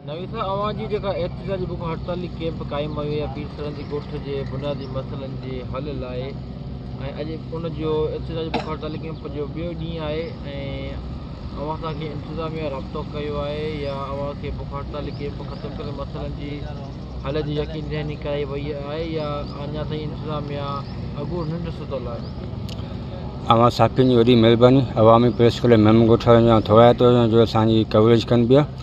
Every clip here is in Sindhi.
نويسا اوهان جي جيڪا احتجاجي بک هڙتالي ڪيمپ قائم ڪيو ويا پير سرندي ڳوٺ جي بنيادي مسئلن جي حل لاء ۽ اڄ ان جو احتجاجي بک هڙتالي ڪيمپ جو ٻيو ڏينهن آهي ۽ اوهان سان ڪنهن انتظاميا رابطو ڪيو آهي يا اوهان کي بک هڙتالي ڪيمپ ختم ڪري مسئلن جي حل جي يقين دهاني ڪرائي وئي آهي يا اڃا تائين انتظاميا اڳو ننڊ ستل آهي. اوهان صحافين جي وڏي مهرباني عوامي پريس ڪلب ميمڻ ڳوٺ وارن جي آئون ٿورائتو آهيان جو اسان جي ڪوريج ڪن پيا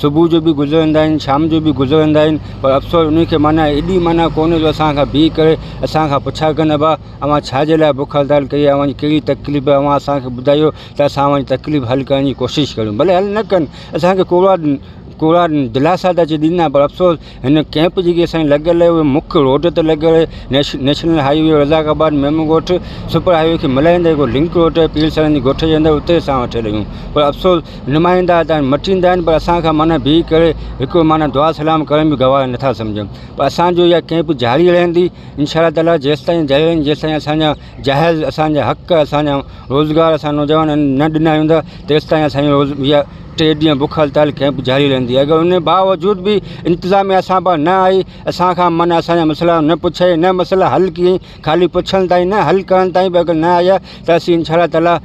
صبح جو به گذرندا آهن شام جو به گذرندا آهن پر افسوس انهن کي معنيٰ ايڏي معنيٰ ڪونهي جو اسان کان بيهه ڪري اسان کان پڇا ڪن ابا اوهان ڇا جي لاء بک هڙتال ڪئي اوهان جي ڪهڙي تڪليف اوهان اسانکي ٻڌايو ته اسان اوهان جي تڪليف حل ڪرڻ جي ڪوشش ڪريون ڀلي حل نه ڪن اسانکي ڪوڙا ڪوڙا دلاسا ته اچي ڏيندا پر افسوس هن ڪئمپ جيڪي اسان جي لڳل اهي مک روڊ تي لڳل national highway Razzaqabad Memon Goth super highway کي ملائيندڙ هڪڙو لنڪ روڊ آهي پير سرن جي ڳوٺ جي اندر اتي اسان وٺي رهيون پر افسوس نمائندا هتا مٽي ايندا آهن پر اسان کان معنيٰ بيهي ڪري هڪڙو معنيٰ دعا سلام ڪرڻ به گوارا نٿا سمجهن پر اسان جو اها ڪئمپ جاري رهندي انشاء الله تعاليٰ جيستائين جيستائين اسان جا جهل اسان جا حق اسان جا روزگار اسان نوجوانن نه ڏنا ويندا تيستائين اسانجي روز يا ٽي ڏينهن بک هڙتال ڪئمپ جاري رهندي اگر ان باوجود به انتظاميا اسان پا نه آئي اسان کان من اسان جا مسئلا نه پڇي نه مسئلا حل ڪيئي خالي پڇڻ تائين نه حل ڪرڻ تائين به اگر نه آيا ته اسين انشاء الله تعاليٰ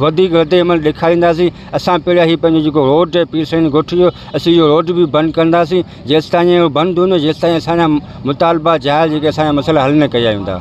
وڌيڪ رد عمل ڏيکارينداسين اسان پهريان هي پنهنجو جيڪو روڊ هي پير سيد ڳوٺ جو اسين اهو روڊ به بند ڪنداسين جيستائين اهو بند هوندو جيستائين اسان جا مطالبا جائز جيڪي اسان جا مسئلا حل نه ڪيا ويندا